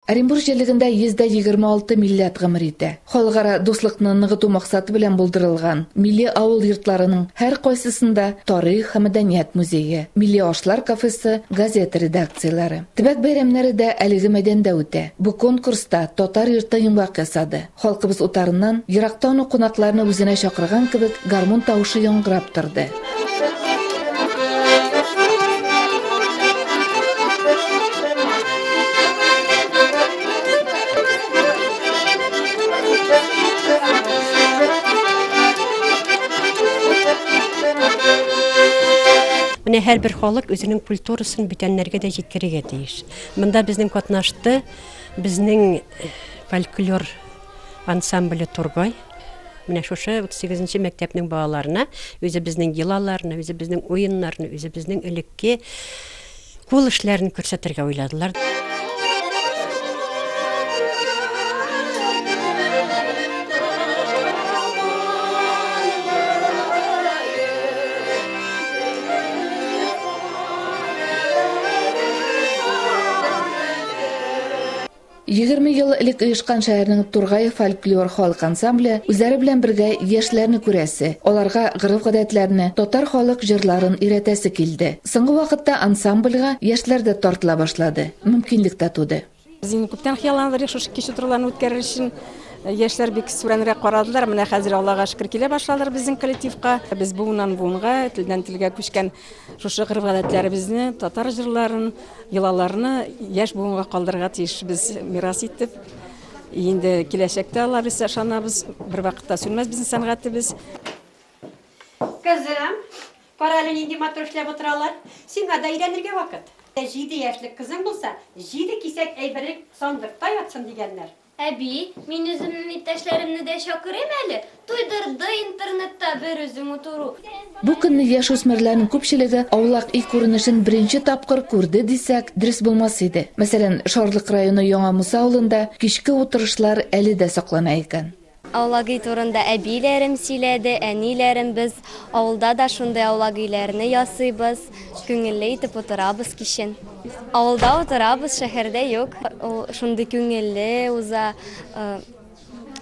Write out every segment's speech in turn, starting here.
Оренбур җирлегендә 126 милләт гомер итә. Халыкара дуслыкны ныгыту максаты белән булдырылган милли авыл йортларының һәркайсысында тарих һәм мәдәният музее, милли ашлар кафесы, газета редакцияләре. Төбәк бәйрәмнәре дә әлеге мәйданда үтә. Бу конкурста Татар йорты йомгак ясады. Халкыбыз утарыннан, ерактан ук кунакларны үзенә чакырган кебек, гармун тавышы яңгырап торды. Менә һәрбер халык үзенең культурасын бүтәннәргә дә җиткерергә тиеш. Монда безнең катнашты, безнең Фольклор ансамбле Тургай менә шушы 38 нче мәктәпнең балаларына үзебезнең йолаларны, үзебезнең уеннарны, үзебезнең элекке кул эшләрен күрсәтергә уйладылар. Егерме ел элек оешкан шәһәрнең Тургай фольклор халык ансамбле үзләре белән бергә яшьләрне күрәсе, аларга гореф-гадәтләрне, татар халык җырларын өйрәтәсе килде. Соңгы вакытта ансамбльга яшьләр дә тартыла башлады, мөмкинлек тә туды. Без инде күптән хыялланып идек шушы кич утыруларны үткәрер өчен. Яшьләр бик сүрәнрәк карадылар. Менә хәзер, Аллага шөкер, килә башладылар безнең коллективка. Без буыннан-буынга, телдән-телгә күчкән Шушы гореф-гадәтләребезне, татар җырларын, йолаларны яшь буынга калдырырга тиешбез мирас итеп. Инде киләчәктә алар без ышанабыз, бервакытта сүнмәс безнең сәнгатебез. Кызым, кара әле нинди матур эшләп утыралар. Сиңа да өйрәнергә вакыт. Җиде яшьлек кызың булса, җиде кисәк әйберең сандыкта ятсын, дигәннәр. Әби, мин үземнен иптәшләремне дә чакырыйм әле, туйдырды интернетта бер үзең утыру. Бу көнне яшүсмерләрнең күпчелеге аулак өй күренешен беренче тапкыр күрде дисәк, дөрес булмас иде. Мәсәлән, Шарлык районы Яңа Муса авылында кичке утырышлар әле дә саклана икән. Аулак өй турында әбиләрем сөйләде, әниләрем, без авылда да шундый аулак өйләрне ясыйбыз. Күңелле итеп утырабыз кичен. Авылда утырабыз, шәһәрдә юк. Ул шундый күңелле уза.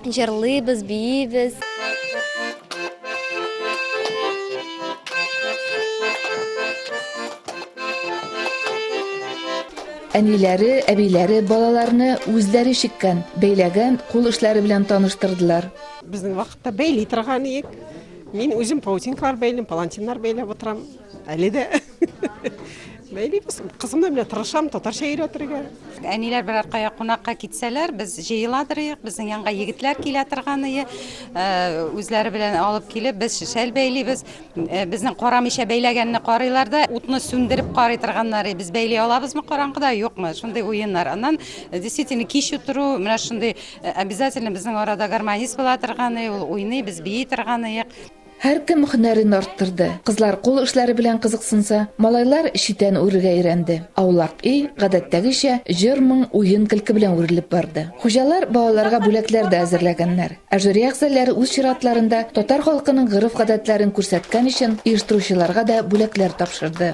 Җырлыйбыз, биибез. Әниләре, әбиләре балаларны үзләре чиккән, бәйләгән кул эшләре белән таныштырдылар. Безнең вакытта бәйли торган идек. Мин үзем паутинкалар бәйлим, палантиннар бәйләп утырам. Әле дә бәйлибез. Кызым да менә тырышам татарча өйрәтергә. Әниләр берәр кая кунакка китсәләр, без җыела торыйк. Безнең янга егетләр килә торганые, үзләре белән алып килеп, без шәл бәйлибез. Безнең карамыйча бәйләгәнне карыйлар да, утны сүндереп карый торганнары, без бәйли алабызмы караңгыда, юкмы? Шундый уеннар. Аннан действительно кич утыру, менә шундый обязательно безнең арада гармонист була торганые, ул уйный, без бии торганые. Һәркем һөнәрен арттырды. Кызлар кул эшләре белән кызыксынса, малайлар читән үрергә өйрәнде. Аулак өй, гадәттәгечә, җыр-моң, уен-көлке белән үрелеп барды. Хуҗалар балаларга бүләкләр дә әзерләгәннәр. Ә жюри әгъзаләре үз чиратларында татар халкының гореф-гадәтләрен күрсәткән өчен оештыручыларга да бүләкләр тапшырды.